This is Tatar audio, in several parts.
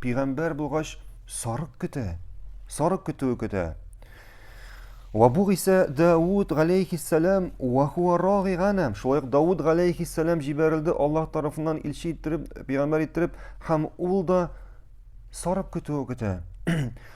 пигамбәр булгач сарык көтә. Сарык көтүе көтә. Ва бу исә Дауд галәйһиссәлам ва хуа рагый ганам. Шулай ук Дауд галәйһиссәлам җибәрелде Аллаһ тарафыннан илче иттереп, пигамбәр иттереп, һәм ул да сарык көтүе көтә.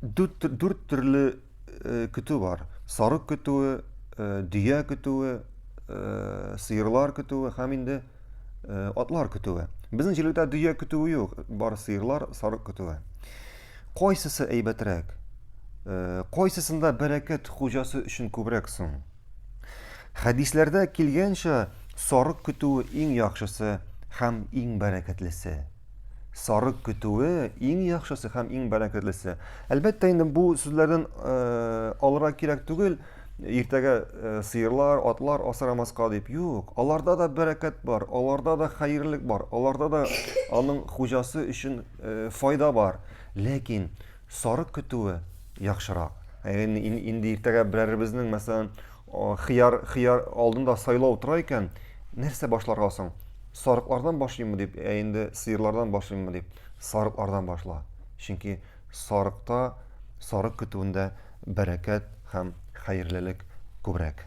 Дүрт, дүрт төрле э, көтү бар. Сарык көтүе, э, дөя көтүе, э, сыерлар көтүе һәм инде э, атлар көтүе. Безнең җирлектә дөя көтүе юк, бар сыерлар, сарык көтүе. Кайсысы әйбәтрәк? Э, кайсысында бәрәкәт хуҗасы өчен күбрәк соң? Хәдисләрдә килгәнчә, сарык көтүе иң яхшысы һәм иң бәрәкәтлесе. Сарык көтүе иң яхшысы һәм иң бәрәкәтлесе. Әлбәттә инде бу сүзләрдән алырга кирәк түгел, иртәгә сыерлар, атлар асрамаска дип. Юк, аларда да бәрәкәт бар, аларда да хәерлек бар, аларда да аның хуҗасы өчен файда бар. Ләкин сарык көтүе яхшырак. Инде иртәгә берәребезнең, мәсәлән, Хыяр, хыяр алдында сайлау тора икән, нәрсә башларга соң? Сарыклардан башлыйммы дип, ә инде сыерлардан башлыйммы дип, сарыклардан башла. Чөнки сарыкта, сарык көтүендә бәрәкәт һәм хәерлелек күбрәк.